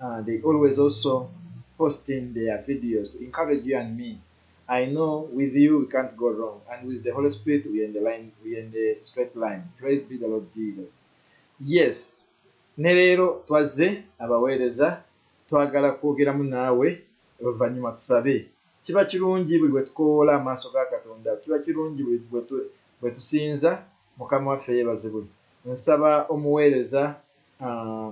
Uh, they always also posting their videos to encourage you and me. I know with you we can't go wrong, and with the Holy Spirit we are in the line, we are in the straight line. Praise be the Lord Jesus. Yes, ne leero twazze abaweereza twagala kwogeramu naawe oluvannyuma tusabe. Kiba kirungi buli bwe tukowoola amaaso ga Katonda, kiba kirungi buli bwe tusinza Mukama waffe yeebazibwe. Nsaba omuweereza Uh,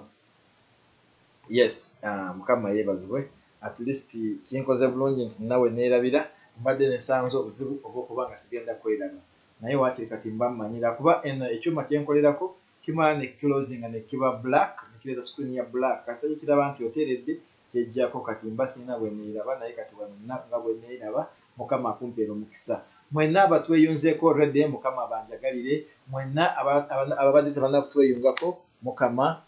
yes uh, mukama yebazibwe at least kinkoze bulungi nti nawe neerabira mbadde nesanze obuzibu obwokuba nga sigenda kweraba naye wakiri kati mba mmanyira kuba eno ekyuma kyenkolerako kimala ne closinga nekiba black nekireeta screen ya black kasita kikiraba nti oteeredde kyejjako kati mba sirina bweneyilaba naye kati wano nina nga bweneyilaba mukama akumpere omukisa mwena abatweyunzeko rede mukama abanjagalire mwena ababadde tebanaba kutweyungako mukama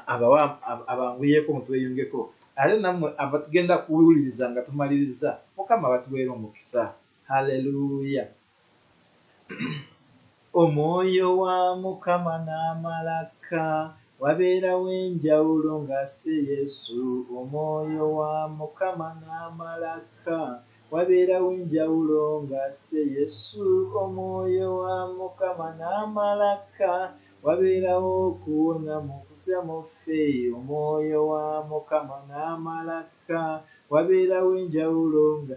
abawe abanguyeko mutweyungeko ate namwe abatugenda kuwuliriza nga tumaliriza mukama abatuwere omukisa hallelujah. Omwoyo wa mukama namala kka wabeerawo enjawulo nga asse Yesu Omwoyo wa mukama namala kka wabeerawo enjawulo nga asse Yesu Omwoyo wa mukama namala kka wabeerawo okuwona mu kutya mu ffe Omwoyo wa mukama namala kka wabeerawo enjawulo nga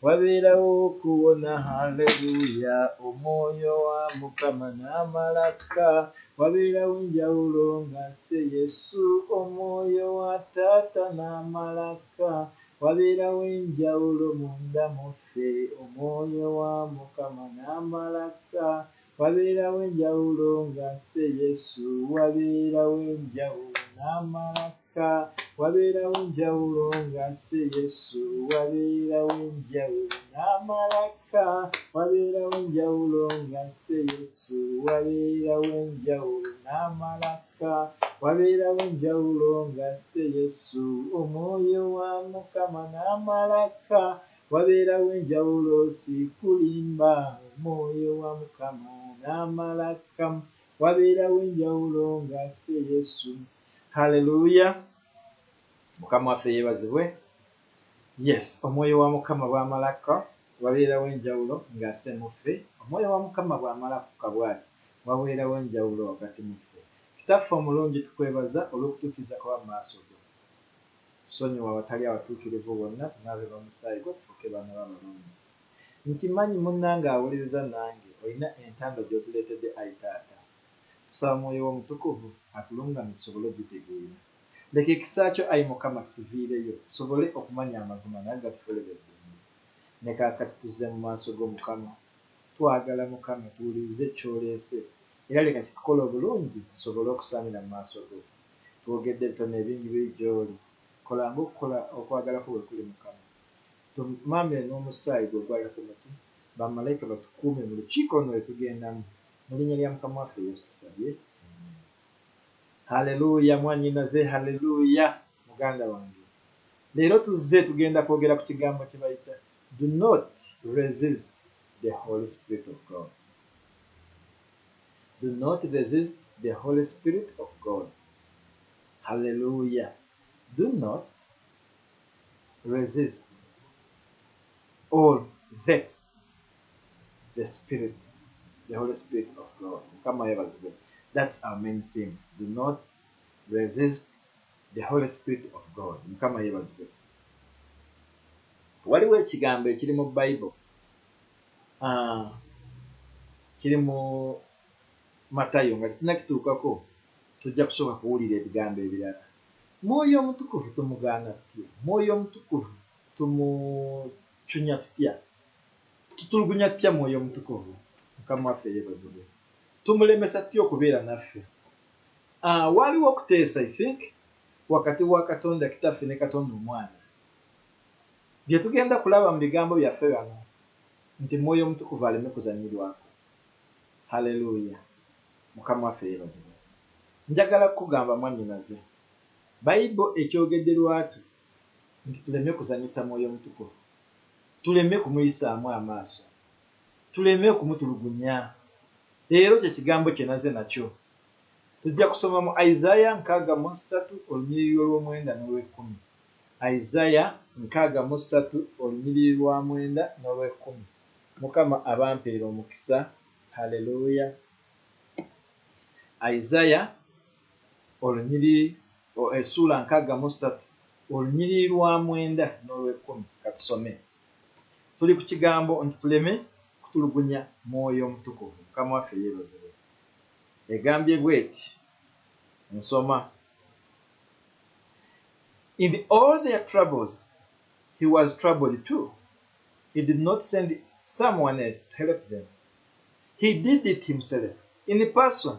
Wabeerawo okuwona, Hallelujah, Omwoyo wa Mukama n'amala akka. Wabeerawo enjawulo nga asse Yesu, Omwoyo wa Taata n'amala akka. Wabeerawo enjawulo munda mu ffe, Omwoyo wa Mukama n'amala akka. Wabeerawo enjawulo nga asse Yesu, Wabeerawo enjawulo n'amala akka. Ka wabeerawo njawulo nga si Yesu, wabeerawo njawulo n'amalaka. Wabeerawo njawulo nga si Yesu, wabeerawo njawulo n'amalaka. Wabeerawo njawulo nga si Yesu, Omwoyo wa Mukama n'amalaka. Wabeerawo enjawulo si kulimba, Omwoyo wa Mukama n'amalaka. Wabeerawo enjawulo nga si Yesu, Hallelujah mukama waffe yebazibwe yes omwoyo wa mukama bwamalakka wabeerawo enjawulo nga ase muffe omwoyo wa mukama bwamala kukka bwati waweerawo enjawulo wakati muffe kitaffe omulungi tukwebaza olwokutukiza kuba maaso go sonyiwa awatali abatuukirivu bonna tunaabe bamusaayi gwo tufuuke baana bo abalungi nkimanyi munange awuliriza nange olina entanda gyotuleetedde ayi taata Tusaba Omwoyo wo Omutukuvu atulungamye tusobole okugitegeera. Leka ekisa kyo, ayi Mukama, kituviireyo, tusobole okumanya amazima nago gatukolere eddembe. Ne kaakati tuzze mu maaso go, Mukama. Twagala, Mukama, tuwulirize ky'oleese, era leka kitukole obulungi tusobole okusaanira mu maaso go. Twogedde ebitono ebingi biri gy'oli. Kola nga okukola okwagala kwo bwe kuli, Mukama. Tumaamire n'omusaayi gwo ogwalira ku mutwe. Bamalaika batukuume mu lukiiko luno lwe tugendamu, Mulinya lya mukama waffe yesu tusabye amen. Hallelujah mwanyinaze Hallelujah muganda wange leero tuzze tugenda kwogera ku kigambo kyebayita do not resist the holy spirit of God do not resist the holy spirit of God Hallelujah do not resist or vex the spirit the holy spirit of God mukama yebazibwe that's our main theme do not resist the holy spirit of God mukama yebazibwe waliwo ekigambo ekiri mu bible uh, kiri mu matayo nga tinakituukako tujja kusooka kuwulira ebigambo ebirala mwoyo omutukuvu tumugaana tutya mwoyo omutukuvu tumucunya tutya Tutulugunya tutya Mwoyo Omutukuvu? Mukama waffe yebazibwe. Tumulemesa tutya okubeera naffe? A, Waaliwo okuteesa, I think, wakati wa Katonda Kitaffe ne Katonda Omwana. Bye tugenda kulaba mu bigambo byaffe bano, nti Mwoyo Omutukuvu aleme kuzanyirwako. Hallelujah! Mukama waffe yebazibwe. Njagala kukugamba, mwannyinaze, Baibul ekyogedde lwatu nti tuleme kuzanyisa Mwoyo Omutukuvu, tuleme kumuyisaamu amaaso, tuleme okumutulugunya. Leero kye kigambo kye naze nakyo. Tujja kusoma mu Isaya nkaaga mu ssatu olunyiriri olw'omwenda n'olw'ekkumi. Isaya nkaaga mu ssatu olunyiriri lwa mwenda n'olw'ekkumi. Mukama abampeere omukisa. Hallelujah. Isaya. olunyiriri o Essuula nkaaga mu ssatu, olunyiriri lwa mwenda n'olw'ekkumi. Ka tusome. Tuli ku kigambo nti tuleme kutulugunya Mwoyo Mutukuvu. Mukama waffe yeebazibwe. Egambye bw'eti, nsoma, In all their troubles He was troubled too. He did not send someone else to help them. He did it Himself, in person.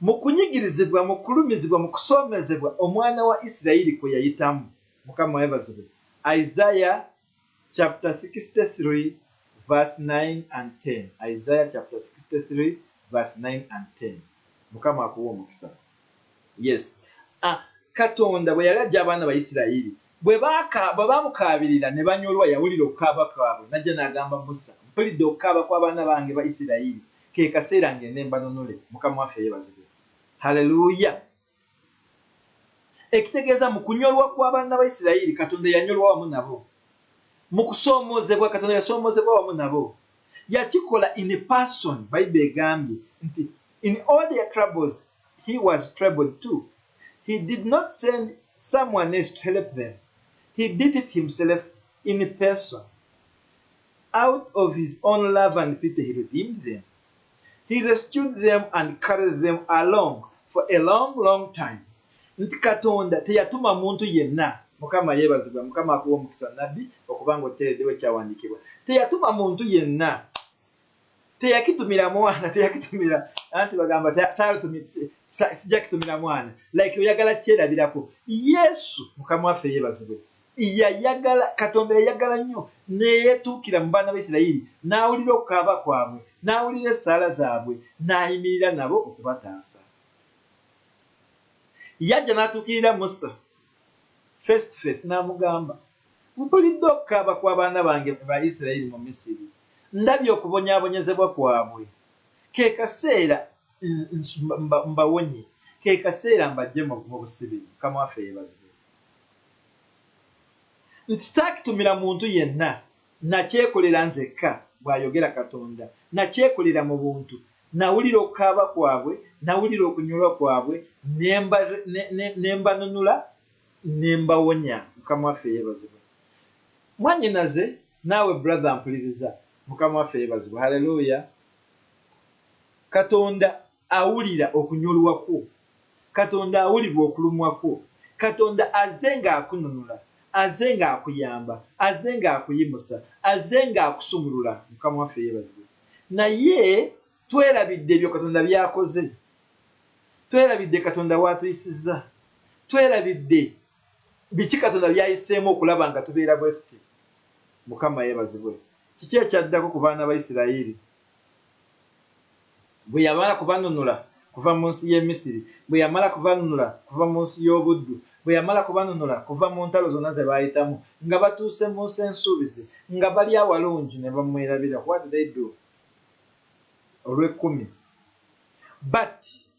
Mu kunyigirizibwa, mu kulumizibwa, mu kusoomoozebwa omwana wa Isirayiri kwe yayitamu, Mukama yebazibwe, Isaiah chapter sixty three verse nine and ten Isaiah chapter sixty three verse nine and ten Mukama akuwe omukisa. Yes. A, Katonda bwe yali ajja abaana Bayisirayiri, bwe baaka, bwe baamukaabirira ne banyolwa, yawulira okukaaba kwabwe, n'ajja n'agamba Musa, Mpulidde okukaaba kw'abaana bange Bayisirayiri. Ke kaseera ngende mbanunule. Mukama waffe yebazibwe. Hallelujah. Ekitegeeza mu kunyolwa kwa baana ba Isiraeri, Katonda yanyolwa wamu nabo. Mu kusoomozebwa, Katonda yasoomozebwa wamu nabo. Yakikola in person. Bible egambye nti in all their troubles he was troubled too. He did not send someone else to help them. He did it himself in person. Out of his own love and pity he redeemed them, he rescued them and carried them along for a long long time nti katonda teyatuma muntu yenna mukama yebazibwe mukama akuwe omukisa nabbi okuba nga oteredewo ekyawandikibwa teyatuma muntu yenna teyakitumira mwana teyakitumira anti bagamba sija kitumira mwana like oyagala kyerabirako yesu mukama waffe yebazibwe Yayagala, Katonda yayagala nnyo ne yeetuukira mu baana ba Isirayiri n'awulira okukaaba kwabwe, n'awulira essaala zaabwe, n'ayimirira nabo okubataasa. Yajja n'atuukirira Musa, face to face, n'amugamba, Mpulidde okukaaba kw'abaana bange ku ba Isirayiri mu Misiri. Ndabye okubonyaabonyezebwa kwabwe. Ke kaseera mbawonye kekaseera mbajje mubusibi mukama waffe yebazibwe nti sakitumira muntu yenna nakyekolera nzekka bwayogera katonda nakyekolera mu buntu nawulira okukaaba kwabwe nawulira okunyolwa kwabwe nembanunula nembawonya mukama waffe yebazibwe mwanyinaze naawe brother mpuliriza mukama waffe yebazibwe haleluya Katonda awulira okunyolwa kwo. Katonda awulira okulumwa kwo. Katonda azze nga akununula. Azze nga akuyamba. Azze nga akuyimusa. Azze nga akusumulula. Mukama waffe yebazibwe. Naye twerabidde ebyo Katonda byakoze. Twerabidde Katonda waatuyisizza. Twerabidde biki Katonda byayiseemu okulaba nga tubeera bwetuti. Mukama yebazibwe. Kiki ekyaddako ku baana ba Isiraeri bwe yamala kubanunula kuva mu nsi y'e Misiri, bwe yamala kubanunula kuva mu nsi y'obuddu, bwe yamala kubanunula kuva mu ntalo zonna ze baayitamu, nga batuuse mu Nsi Ensuubize, nga bali awalungi ne bamwerabira, what did they do? Olw'ekkumi. But.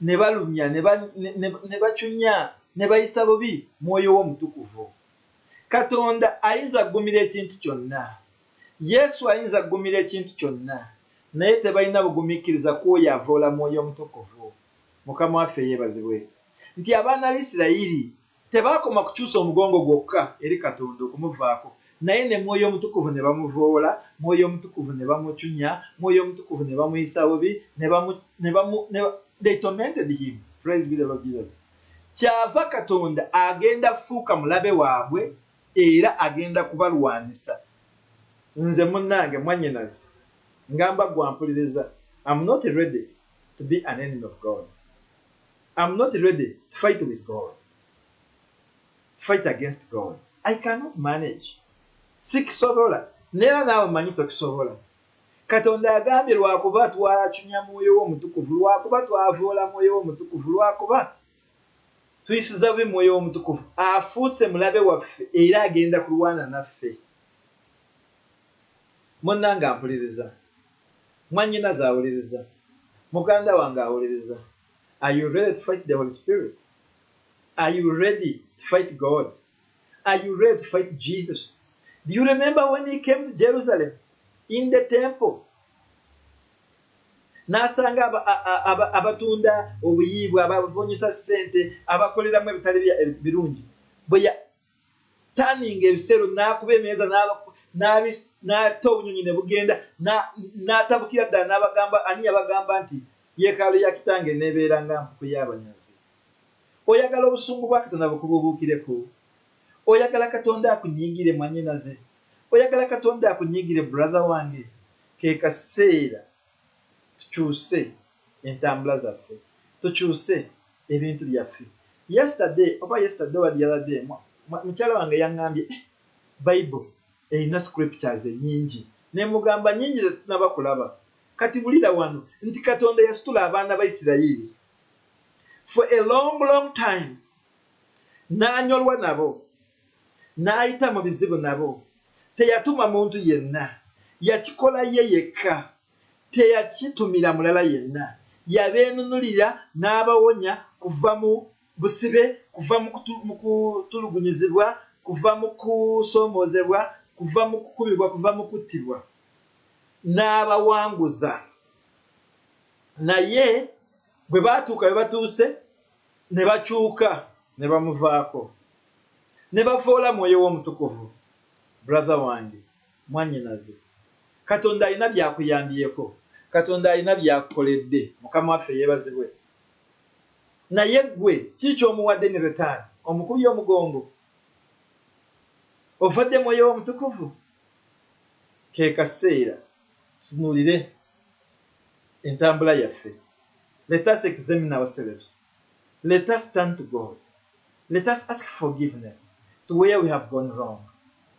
ne balumya, ne ba, ne, ne, ne bacunya, ne bayisa bubi Mwoyo We Omutukuvu. Katonda ayinza kugumira ekintu kyonna. Yesu ayinza kugumira ekintu kyonna. Naye tebalina bugumiikiriza ku Oyo avoola Mwoyo Omutukuvu. Mukama waffe yeebazibwe nti abaana ba Isiraeri Tebaakoma kukyusa omugongo gwokka eri Katonda okumuvaako, naye ne Mwoyo Omutukuvu ne bamuvoola, Mwoyo Omutukuvu ne bamuchunya, Mwoyo Omutukuvu ne bamuyisa bubi, ne bamu, ne bamu, ne ba, they tormented him. Praise be the Lord Jesus. Kyava Katonda agenda fuuka mulabe waabwe era agenda kubalwanisa. Nze, munnange, mwannyinazi, ngamba ggwe ampuliriza, am not ready to be an enemy of God. Am not ready to fight with God to fight against God I cannot manage sikisobola nera naawe manyi tokisobola katonda agambye lwakuba twacunya mwoyo wo omutukuvu lwakuba twavoola mwoyo wo omutukuvu lwakuba tuyisiza bubi mwoyo womutukuvu afuuse mulabe waffe era agenda kulwana naffe munanga mpuliriza mwanyina zawuliriza muganda wange awuliriza are you ready to fight the holy spirit are you ready to fight god are you ready to fight jesus do you remember when he came to jerusalem in the temple n'asanga abatunda obuyiibwa abavunyisa ssente abakoleramu ebitali birungi n'atanninga ebisero, n'akuba emeeza n'atta obunyonyi ne bugenda, n'atabukira ddala n'abagamba, Ani yabagamba nti yeekaalu ya Kitange eneebeera nga mpuku y'abanyazi? Oyagala obusungu bwa Katonda bukubuubuukireko? Oyagala Katonda akunyiigire, mwannyinaze? Oyagala Katonda akunyiigire, brother wange? Ke kaseera tukyuse entambula zaffe tukyuse ebintu byaffe yesterday oba yesterday wadi yabadde mukyala wange yangambye eh, bible erina scriptures enyingi nemugamba nyingi zetunaba kulaba kati bulira wano nti katonda yasitula abaana ba isirayiri for a long long time nanyolwa nabo nayita mu bizibu nabo teyatuma muntu yenna yakikola ye yekka teyakitumira mulala yenna. Yabeenunulira n'abawonya kuva mu busibe, kuva mu kutulugunyizibwa, kuva mu kusoomoozebwa, kuva mu kukubibwa, kuva mu kuttibwa, n'abawanguza. Naye bwe baatuuka we batuuse, ne bakyuka ne bamuvaako, ne bavvoola Mwoyo we Omutukuvu. Brother wange! mwannyinaze. Katonda alina by'akuyambyeko. Katonda alina by'akukoledde. Mukama waffe yeebazibwe! Naye ggwe, kiki ky'omuwadde ne Letaani? Omukubye omugongo? Ofadde Mwoyo we Omutukuvu? Ke kaseera tutunuulire entambula yaffe. Let us examine ourselves. Let us turn to God. Let us ask forgiveness to where we have gone wrong.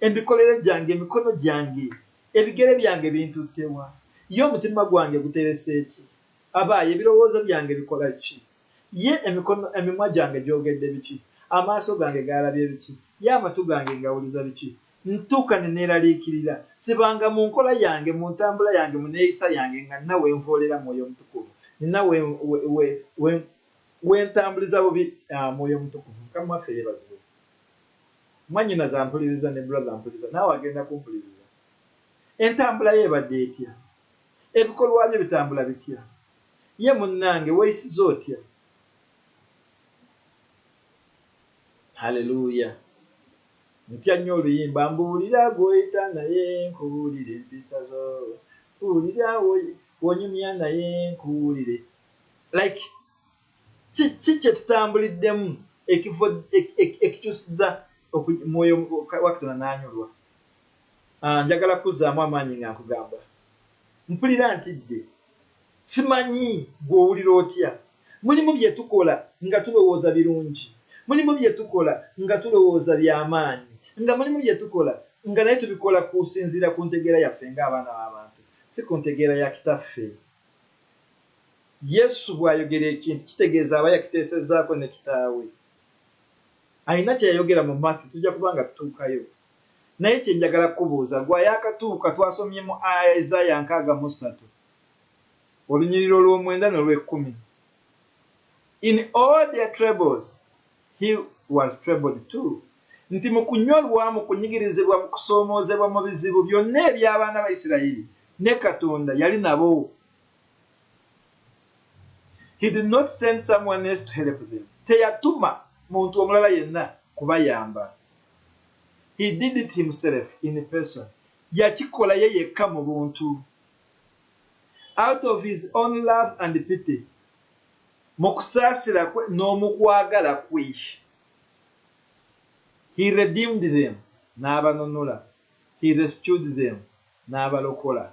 Emikolere gyange, emikono gyange, ebigere byange bintutte wa? Ye omutima gwange guterese ki? Aba ye ebirowoozo byange bikola ki? Ye emikono, emimwa gyange gyogedde biki? Amaaso gange gaalabye biki? Ye amatu gange ngawuliza biki? Ntuuka ne neeraliikirira. Sibanga mu nkola yange, mu ntambula yange, mu neeyisa yange nga nina we nvoolera Mwoyo Mutukuvu, nina we, we, we, we ntambuliza bubi Mwoyo Mutukuvu. Mukama waffe yeebazibwe. Mwanyinaze ampuliriza ne brother ampuliriza naawe agenda kumpuliriza. Entambula ye ebadde etya? Ebikolwa bye bitambula bitya? Ye munnange weeyisiza otya? Hallelujah. Ntya nnyo oluyimba Mbuulira gw'oyita naye nkubuulire empisa zo. Mbuulira w'onyumya naye nkuwulire. Like. kiki kyetutambuliddemu ekifo ekikyusiza mwoyo wakitona nanyolwa ah, njagala kuzaamu amaanyi nga nkugamba mpulira ntidde simanyi gwowulira otya mulimu byetukola nga tulowooza birungi mulimu byetukola nga tulowooza byamaanyi nga mulimu byetukola nga naye tubikola kusinziira ku ntegeera yaffe nga abaana babantu si ku ntegeera ya kitaffe Yesu bw'ayogera ekintu kitegeeza aba yakiteesezzaako ne Kitaawe. Alina kye yayogera mu Matthew, tujja kuba nga tutuukayo. Naye kye njagala kukubuuza, ggwe ayaakatuuka, twasomye mu Isaya nkaaga mu ssatu, olunyiriri olw'omwenda n'olw'ekkumi, In all their troubles, He was troubled too nti mu kunyolwa, mu kunyigirizibwa, mu kusoomoozebwa, mu bizibu byonna eby'abaana ba Isirayiri, ne Katonda yali nabo. He did not send someone else to help them. Teyatuma muntu omulala yenna kubayamba. He did it himself in person. Yakikola ye yekka mu buntu. Out of his own love and pity. Mu kusaasira kwe n'omu kwagala kwe, He redeemed them, n'abanunula, He rescued them, n'abalokola,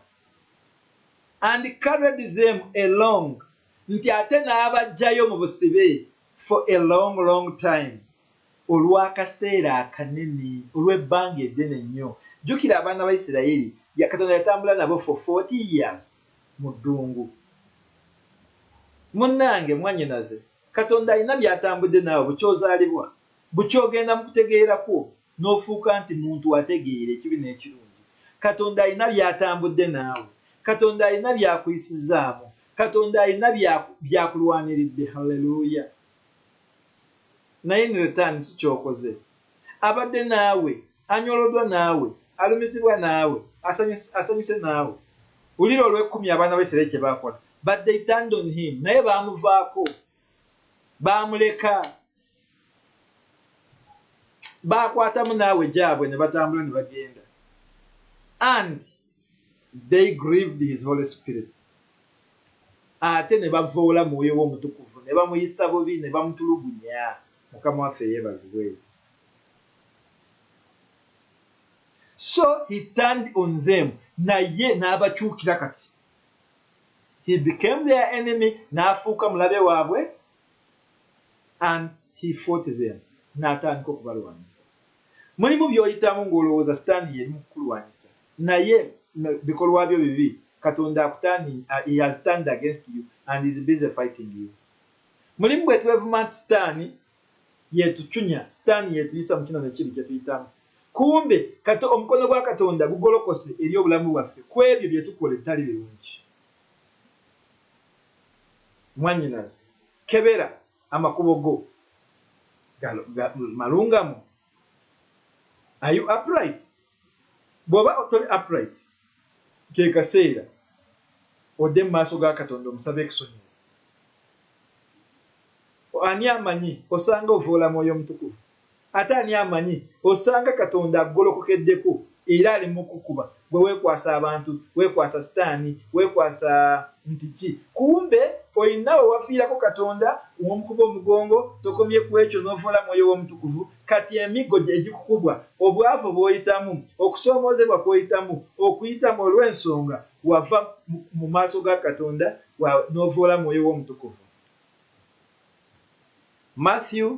and carried them along, nti ate n'abaggyayo mu busibe, for a long, long time, olw'akaseera akanene, olw'ebbanga eddene nnyo. Jjukira abaana ba Isiraeri, Katonda yatambula nabo for forty years. mu ddungu. Munnange mwannyinaze, Katonda alina by'atambudde naawe buky'ozaalibwa, buky'ogenda mu kutegeera kwo n'ofuuka nti muntu ategeera ekibi n'ekirungi. Katonda alina by'atambudde naawe. Katonda alina by'akuyisizzaamu. Katonda alina by'akulwaniridde. Hallelujah! Naye in return ki ky'okoze? Abadde naawe. Anyolodwa naawe, alumizibwa naawe, asanyuse naawe. Wulira olw'ekkumi abaana ba Isiraeri kye baakola. But they turned on him. Naye baamuvaako. Baamuleka. Baakwatamu naawe gyabwe ne batambula ne bagenda. And. They grieved his holy spirit, ate ne bavoola Mwoyo we Omutukuvu, ne bamuyisa bubi, ne bamutulugunya. Mukama waffe yeebazibwe! So he turned on them, naye n'abakyukira kati. He became their enemy, n'afuuka mulabe waabwe, and he fought them, n'atandika okubalwanyisa. Mulimu byoyitamu ngolowooza sitani yeri mukukulwanyisa naye no bikolwa byo bibi katonda akuturning a he has turned against you and is busy fighting you. Mulimu bwetwevuma nti sitani yetuchunya sitani yetuyisa mukino nekiri kyetuyitamu kumbe kato omukono gwa katonda gugolokose eri obulamu bwaffe kwebyo byetukola ebitali birungi. Mwanyinaze kebera Amakubo go malungamu? Are you upright? Bwoba toli upright, ke kaseera odde mu maaso ga Katonda omusabe ekusonyiwe. Ani amanyi osanga ovvoola Mwoyo Mutukuvu. Ate ani amanyi, osanga Katonda akugolokokeddeko era ali mu kukukuba, ggwe weekwasa abantu, weekwasa sitaani, weekwasa nti ki, kumbe olina we wafiirako Katonda w'omukuba omugongo, tokomye ku ekyo n'ovvoola Mwoyo we Omutukuvu, kati emiggo gye gikukubwa, obwavu bw'oyitamu, okusoomoozebwa kw'oyitamu, okuyitamu olw'ensonga wava mu maaso ga Katonda wa, n'ovvoola Mwoyo we Omutukuvu. Matthew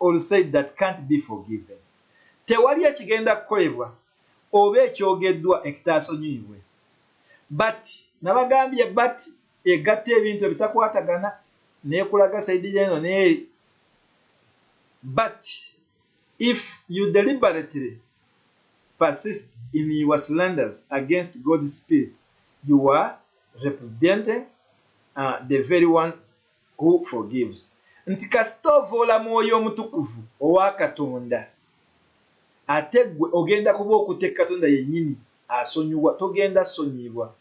or said that can't be forgiven. Tewali ekigenda kukolebwa oba ekyogeddwa ektaasonyiyibwe. But nabagambye but egatta ebintu ebitakwatagana nekulaga side yeno neeri. But if you deliberately persist in your slanders against God's spirit, you are repudiating uh, the very one Who forgives nti kasita ovoola mwoyo omutukuvu owa Katonda ate gwe ogenda kuba okute Katonda yenyini asonyiwa togenda sonyiibwa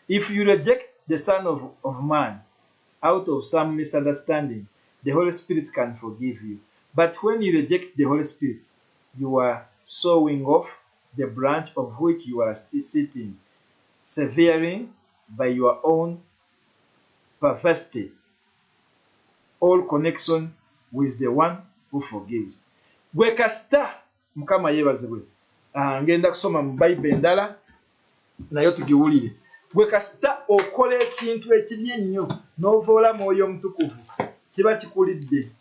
if you reject the son of, of man out of some misunderstanding the holy spirit can forgive you but when you reject the holy spirit you are sowing off the branch of which you are sitting severing by your own perversity all connection with the one who forgives gwe kasita mukama yebazibwe ah, ngenda kusoma mu bible endala naye tugiwulire gwe kasita okola ekintu ekibi ennyo n'ovoola mwoyo omutukuvu kiba kikulidde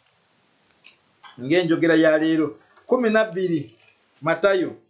ng'enjogera ya leero kumi nabbiri matayo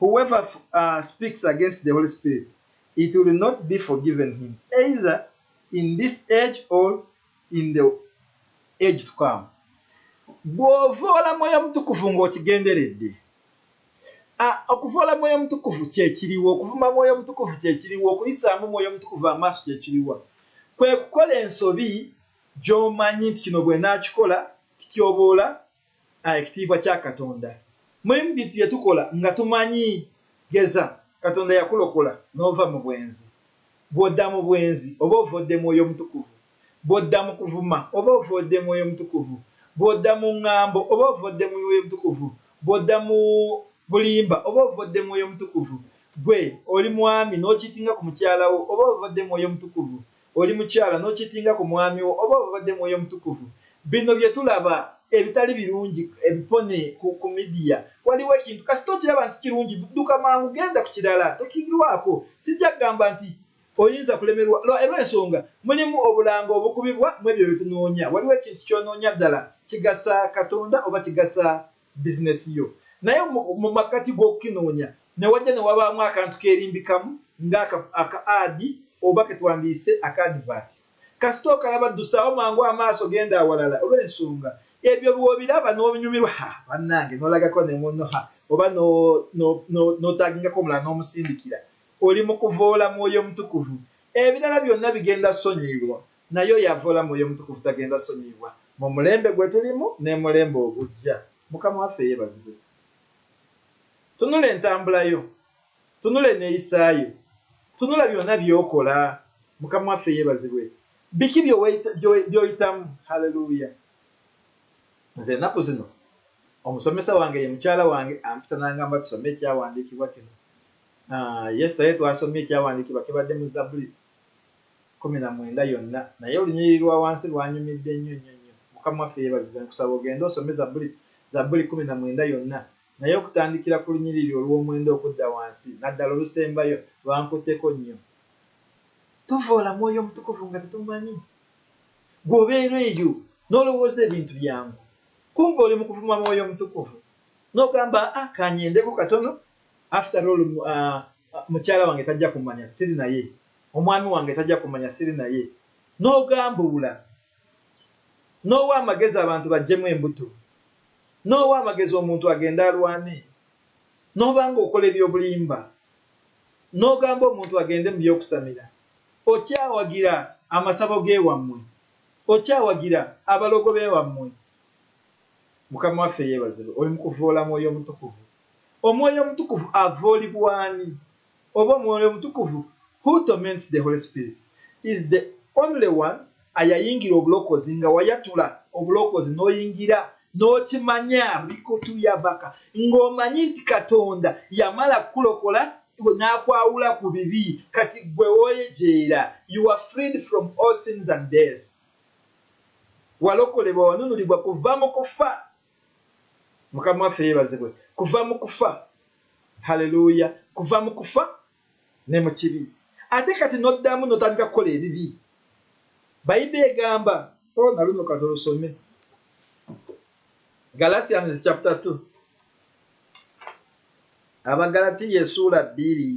Whoever uh, speaks against the Holy Spirit, it will not be forgiven him, either in this age or in the age to come. Bw'ovoola Mwoyo Mutukuvu ng'okigenderedde, okuvoola Mwoyo Mutukuvu kyekiriwo, okuvuma Mwoyo Mutukuvu kyekiriwo, okuyisaamu Mwoyo Mutukuvu amaaso kyekiriwa, kwe kukola ensobi gy'omanyi nti kino bw'enaakikola kityoboola a ekitiibwa kya Katonda. Mulimu bintu bye tukola nga tumanyi. Geza, Katonda yakulokola n'ova mu bwenzi. Bw'odda mu bwenzi, oba ovoodde Mwoyo Mutukuvu. Bw'odda mu kuvuma, oba ovoodde Mwoyo Mutukuvu. Bw'odda mu ŋŋambo, oba ovoodde Mwoyo Mutukuvu. Bw'odda mu bulimba, oba ovoodde Mwoyo Mutukuvu. Ggwe oli mwami n'okiitinga ku mukyala wo, oba ovoodde Mwoyo Mutukuvu. oli mukyala n'okiitinga ku mwami wo oba obadde Mwoyo Mutukuvu. Bino bye tulaba ebitali birungi ebipone ku, ku midiya. Waliwo ekintu, kasita okiraba nti kirungi, dduka mangu genda ku kirala, tokirwaako. Sijja kugamba nti oyinza kulemerwa, lwa, lwa ensonga mulimu obulango obukubibwa mu ebyo bye tunoonya. Waliwo ekintu ky'onoonya ddala, kigasa Katonda oba kigasa business yo naye mu makkati g'okukinoonya ne wajja ne wabaamu akantu keerimbikamu nga aka aka ad oba ke twandiyise aka advert. Kasita okalaba ddusaawo mangu amaaso genda awalala olw'ensonga ebyo bw'obiraba n'obinyumirwa ha bannange n'olagako ne munno ha oba no no no n'otaagingako omulala n'omusindikira oli mu kuvoola Mwoyo Mutukuvu ebirala byonna bigenda sonyiirwa. Naye oyo avoola Mwoyo Mutukuvu tagenda sonyiibwa mu mulembe gwe tulimu n'emulembe ogujja. Mukama waffe yebazibwe. Tunula entambula yo. Tunula eneyisa yo. Tunula byona byokola. Mukama waffe yebazibwe. Biki byoyitamu. Hallelujah. Nze enaku zino omusomesa wange ye mukyala wange ampita nangamba tusome ekyawandiikibwa kino. Ah, Yesitaye twasomye ekyawandiikibwa kibadde mu Zabuli. kkumi na mwenda yonna naye olunyiriri lwa wansi lwanyumidde nnyo nnyo nnyo. Mukama waffe yebazibwe nkusaba ogende osome Zabbuli Zabbuli kkumi na mwenda yonna naye okutandikira ku lunyiriri olw'omwenda okudda wansi naddala olusembayo lwankutteko nnyo. Tuvvoola Mwoyo Mutukuvu nga tetumumanyi. Ggwe obeera eyo n'olowooza ebintu byangu kumbe oli mu kuvuma Mwoyo Mutukuvu n'ogamba aa kanyendeko katono after all mukyala wange tajja kummanya siri naye Omwami wange tajja kumanya siri naye n'ogambuula n'owa amagezi abantu bajjemu embuto n'owa amagezi omuntu agende alwane n'oba nga okola eby'obulimba n'ogamba omuntu agende mu by'okusamira okyawagira amasabo g'ewammwe okyawagira abalogo b'ewammwe Mukama waffe yeebazibwe oli mu kuvvoola Mwoyo Omutukuvu Omwoyo Omutukuvu avvoolibwa ani? oba omwoyo omutukuvu, who torments the Holy Spirit, is the only one ayayingira obulokozi nga wayatula obulokozi noyingira nokimanya rikutuyabaka nga omanyi nti Katonda yamala kukulokola nakwawula ku bibi kati gwe woyejeera you are freed from all sins and death walokolebwa wanunulibwa kuva mu kufa Mukama waffe yebazibwe kuva mu kufa. Hallelujah kuva mu kufa ne mu kibi ate kati noddamu notandika kukola ebibi. Bayibe egamba oh na luno katulusome Galatians chapter 2 Abagalatiya esuula bbiri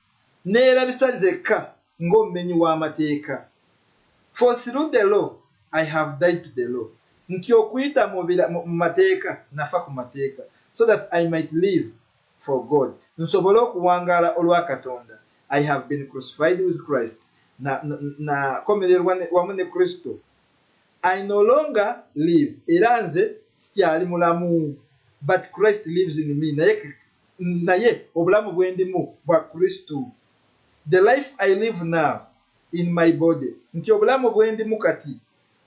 neyerabisa nzekka ng'omumenyi w'amateeka for through the law I have died to the law nti okuyita mu mu mateeka nafa ku mateeka so that I might live for God nsobole okuwangaala olwa Katonda I have been crucified with Christ na na komererwa wamu ne Kristo I no longer live era nze sikyali mulamu but Christ lives in me naye Naye obulamu bwendimu bwa Kristo, the life I live now in my body, nti obulamu bwendimu kati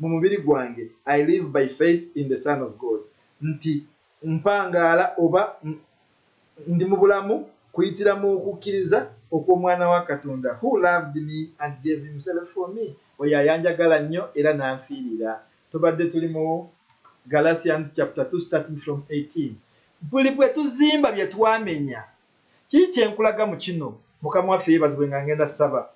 mu mubiri gwange, I live by faith in the Son of God, nti mpangaala oba ndi mu bulamu kuyitira mu kukkiriza okw'Omwana wa Katonda, who loved me and gave himself for me, oyo ayanjagala nnyo era n'anfiirira. Tubadde tuli mu Galatians chapter two starting from eighteen. Buli bwe tuzimba bye twamenya. Kiki kye nkulaga mu kino? Mukama waffe yeebazibwe nga ngenda kusaba.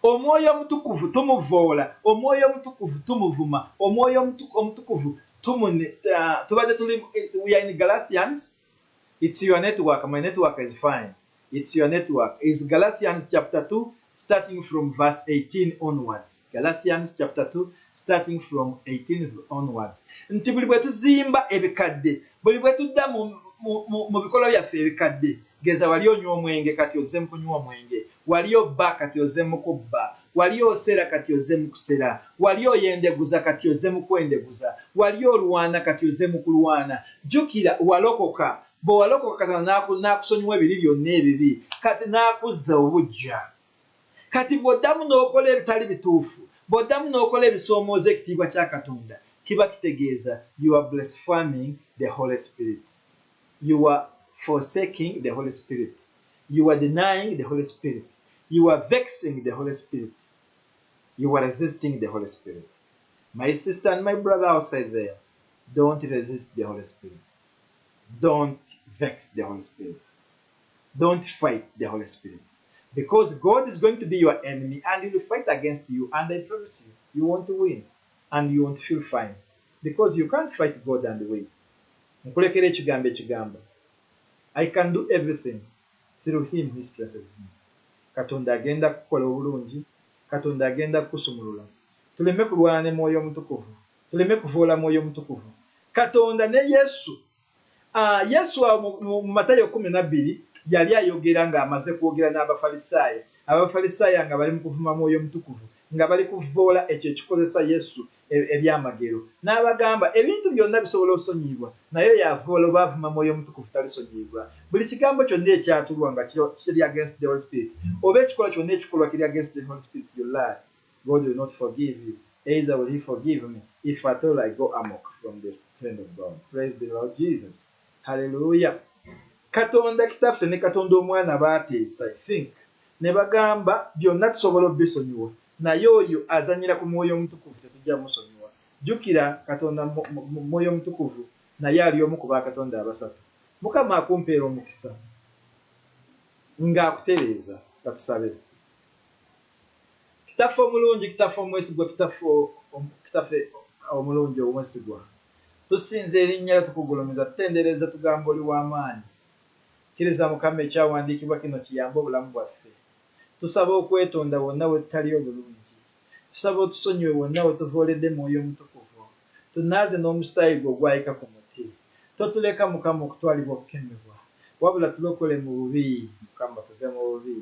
Omwoyo Omutukuvu tumuvvoola, Omwoyo Omutukuvu tumuvuma, Omwoyo Omutu, Omutukuvu tumune, uh, tubadde tuli, we are in Galatians, it's your network, my network is fine. It's your network is Galatians chapter 2 starting from verse 18 onwards Galatians chapter 2 starting from 18 onwards nti buli bwe tuzimba ebikadde buli bwe tudda mu, mu, mu, mu bikolwa byaffe ebikadde geza wali onywa omwenge kati ozze mu kunywa omwenge wali obba kati ozze mu kubba wali oseera kati ozze mu kusera wali oyendeguza kati ozze mu kwendeguza wali olwana kati ozze mu kulwana jjukira walokoka Bwe walokoka Katonda n'akusonyiwa ebibi byonna ebibi, kati n'akuzza obuggya. Kati bw'oddamu n'okola ebitali bituufu, bw'oddamu n'okola ebisoomooza ekitiibwa kya Katonda, kiba kitegeeza you are blaspheming the Holy Spirit, you are forsaking the Holy Spirit, you are denying the Holy Spirit, you are vexing the Holy Spirit, you are resisting the Holy Spirit. My sister and my brother outside there, don't resist the Holy Spirit. don't vex the holy spirit don't fight the holy spirit because god is going to be your enemy and will fight against you and i promise you you want to win and you want to feel fine because you can't fight god and win nkulekera ekigambo ekigamba i can do everything through him who stresses me katonda agenda kukola obulungi katonda agenda kukusumulula tuleme kulwana ne mwoyo omutukuvu Tuleme kuvoola Mwoyo Mutukuvu. Katonda ne Yesu. A. Yesu awo mu, mu, mu Matayo kkumi na bbiri, yali ayogera, nga amaze kwogera n'Abafalisaayo, abo Abafalisaayo nga bali mu kuvuma Mwoyo Mutukuvu, nga bali kuvvoola ekyo ekikozesa Yesu, e, ebyamagero. N'abagamba, Ebintu byonna bisobola osonyiyibwa, naye oyo avvoola oba avuma Mwoyo Mutukuvu talisonyiyibwa. Buli kigambo kyonna ekyatulwa nga kiri, kiri against the Holy Spirit, oba ekikolwa kyonna ekikolwa kiri against the Holy Spirit, you lie. God will not forgive you either will he forgive me if at all I go amok from the hand of God praise the Lord Jesus hallelujah Katonda kitaffe ne Katonda omwana baateesa I think ne bagamba byonna tusobola obisonyiwa naye oyo azanyira ku mwoyo omutukuvu tetujja musonyiwa jukira Katonda mwoyo omutukuvu naye ali omu ku ba Katonda abasatu mukama akumpeera omukisa ng'akutereeza katusabe Kitaffe omulungi, Kitaffe omwesigwa, Kitaffe, Kitaffe omulungi omwesigwa, tusinza erinnya lyo, tukugulumiza, tutendereza, tugamba oli wa maanyi. Kkiriza Mukama ekyawandiikibwa kino kiyambe obulamu bwaffe. Tusaba okwetonda wonna wetutali obulungi. Tusaba otusonyiwe wonna wetuvooledde Mwoyo Omutukuvu. Tunaaze n'omusaayi gwe ogwayika ku muti, totuleka Mukama okutwalibwa okukemebwa, wabula tulokole mu bubi. Mukama tuve mu bubi,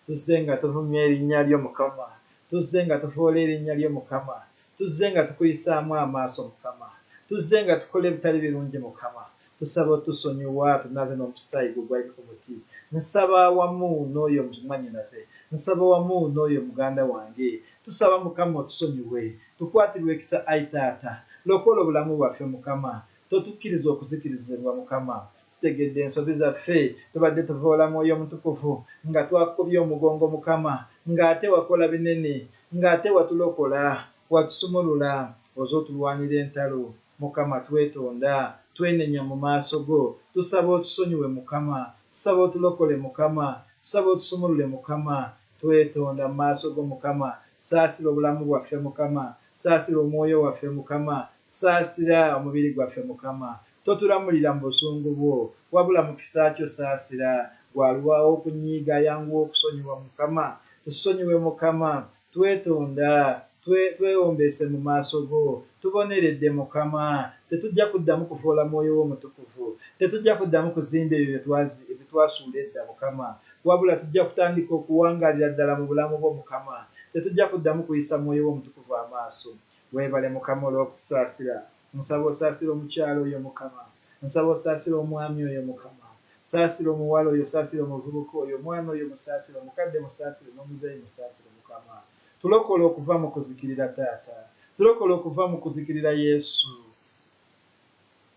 tuzze nga tuvumye erinnya lyo Mukama, tuzze nga tuvoola erinnya lyo Mukama, tuzze nga tukuyisaamu amaaso Mukama, tuzze nga tukola ebitali birungi Mukama, Tusaba otusonyiwa tunaze nomusayi gwo gwali kumuti nsaba wamu noyo mwanyinaze nsaba wamu noyo muganda wange tusaba mukama otusonyiwe tukwatirwe ekisa ayi taata lokola obulamu bwaffe mukama totukiriza okuzikirizibwa mukama tutegedde ensobi zaffe tubadde tuvoola mwoyo mutukuvu nga twakukubye omugongo mukama nga ate wakola binene nga ate watulokola watusumulula oze otulwanira entalo Mukama twetonda, twenenya mu maaso go, tusaba otusonyiwe Mukama, tusaba otulokole Mukama, tusaba otusumulule Mukama, twetonda mu maaso go Mukama, saasira obulamu bwaffe Mukama, saasira omwoyo waffe Mukama, saasira omubiri gwaffe Mukama, totulamulira mu busungu bwo, wabula mu kisa kyo saasira, gwe aluwawo okunyiiga ayanguwa okusonyiwa Mukama, tusonyiwe Mukama, Twetonda, twe, twewombeese mu maaso Go. Tuboneredde, Mukama. Tetujja kuddamu kuvoola Mwoyo Wo Omutukuvu. Tetujja kuddamu kuzimba ebyo bye twazi, bye twasuula edda, Mukama. Wabula tujja kutandika okuwangaalira ddala mu Bulamu Bwo, Mukama. Tetujja kuddamu kuyisa Mwoyo Wo Omutukuvu amaaso. Weebale, Mukama, olw'okutusaasira. Nsaba osaasire omukyala oyo mukama nsaba osaasire omwami oyo mukama saasira omuwala oyo saasira omuvubuka oyo omwana oyo musaasire omukadde musaasire nomuzeeyi musaasire mukama tulokole okuva mukuzikirira taata tulokole okuva mukuzikirira yesu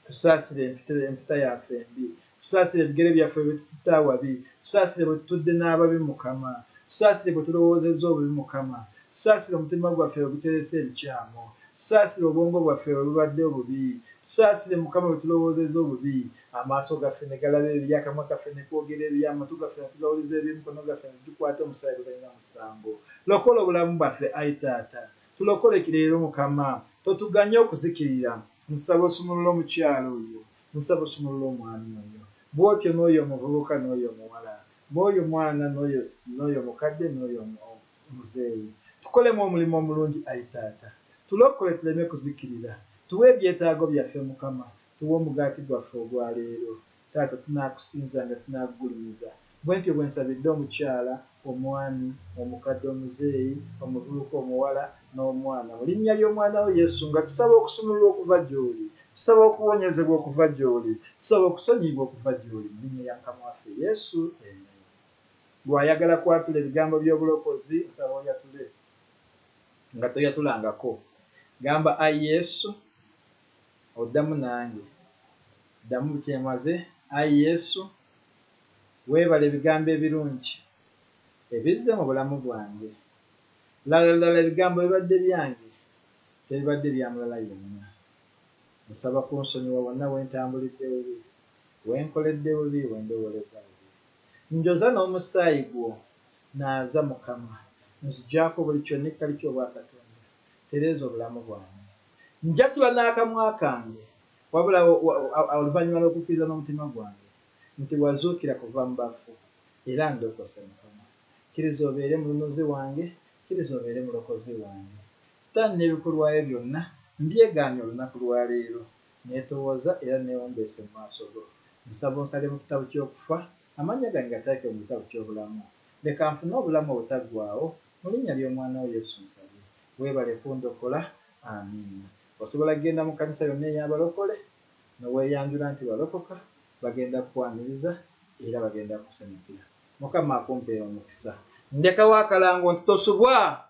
tusaasire empita yaffe embi. Tusaasire ebigere byaffe bye tututte awabi, tusaasire bwe tutudde n'ababi, Mukama. Tusaasire bwe tulowoozezza obubi, Mukama. Tusaasire omutima gwaffe bwe guterese ebikyamu. Tusaasire obwongo bwaffe bwe bubadde obubi. Tusaasire, Mukama, bwe tulowoozezza obubi, amaaso gaffe ne galaba ebibi, akamwa kaffe ne koogera ebibi, amatu gaffe ne tugawuliza ebibi, emikono gaffe ne tugikwata omusaayi ogutalina musango. Lokola obulamu bwaffe, ayi Taata. Tulokole leero, Mukama. Totuganya okuzikirira. Nsaba osumulule omukyala oyo. Nsaba osumulule omwami oyo. Bw'otyo n'oyo omuvubuka n'oyo omuwala, b'oyo mwana n'oyo, n'oyo mukadde n'oyo omuzeeyi. Tukolemu omulimu omulungi, ayi Taata. Tulokole tuleme kuzikirira. Tuwe ebyetaago byaffe, Mukama. Tuwe omugaati gwaffe ogwa leero. Taata, tunaakusinzanga, tunaakugulumiza. Bwentyo bwensabidde omukyala, omwami, omukadde, omuzeeyi, omuvubuka, omuwala, n'omwana, mu linnya ly'omwana wo Yesu, nga tusaba okusumululwa okuva gy'oli, tusaba okuwonyezebwa okuva gy'oli, tusaba okusonyiyibwa okuva gy'oli, mu linnya lya Mukama waffe Yesu, amen. Gwe ayagala kwatula ebigambo by'obulokozi, nsaba oyatule. Nga toyatulangako, gamba, Ai Yesu, oddamu nange. Ddamu butyemaze, Ai Yesu. Weebale ebigambo ebirungi ebizze mu bulamu bwange. Lala lala ebigambo bibadde byange, tebibadde bya mulala yenna. Nsaba kunsonyiwa wonna we ntambulidde bubi, we nkoledde bubi, we ndowoolezza bubi. Njoza n'omusaayi gwo. Naaza, Mukama. Nzigyako buli kyonikali ky'obwa Katonda. Tereeza obulamu bwange. Njatula n'akamwa kange, wabula oluvannyuma lw'okukkiriza n'omutima gwange, nti wazuukira kuva mu bafu era ndokose Mukama kiriza obeere mununuzi wange kiriza obeere mulokozi wange sitaani nebikolwaye byonna mbyegaanye olunaku lwa leero netowooza era newombeese mu maaso go nsaba onsale mu kitabu kyokufa amannya gange gateeke mu bitabu kyobulamu leka nfune obulamu obutaggwaawo mu linnya lyomwana wo Yesu nsabye webale kundokola Amiina Osobola genda mu kanisa yonna eyabalokole. ne weeyanjula nti walokoka, bagenda kukwaniriza era bagenda kukusanyukira. Mukama akumpe omukisa. Ndekawo akalango nti tosubwa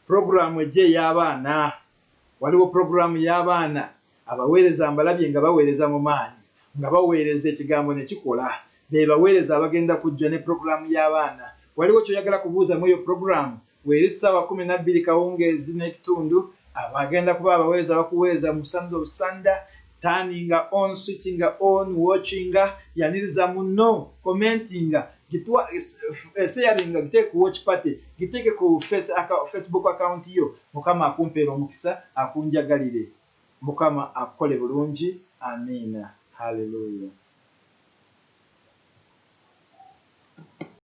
pulogulaamu ejja ey'abaana. Waliwo pulogulaamu y'abaana abaweereza mbalabye nga baweereza mu maanyi, nga baweereza Ekigambo ne kikola. Be baweereza abagenda kujja ne pulogulaamu y'abaana. Waliwo ky'oyagala kubuuza mw'eyo pulogulaamu? Weeri ssaawa kkumi na bbiri kawungeezi n'ekitundu, abo agenda kuba abaweereza bakuweereza mu sons of sunder, turninga on, switchinga on, watchinga, yaniriza munno, commentinga, gitwa, sharinga, giteeke ku watch party, giteeke ku face, aka, Facebook account yo. Mukama akumpeere omukisa, akunjagalire. Mukama akukole bulungi. Amiina. Hallelujah.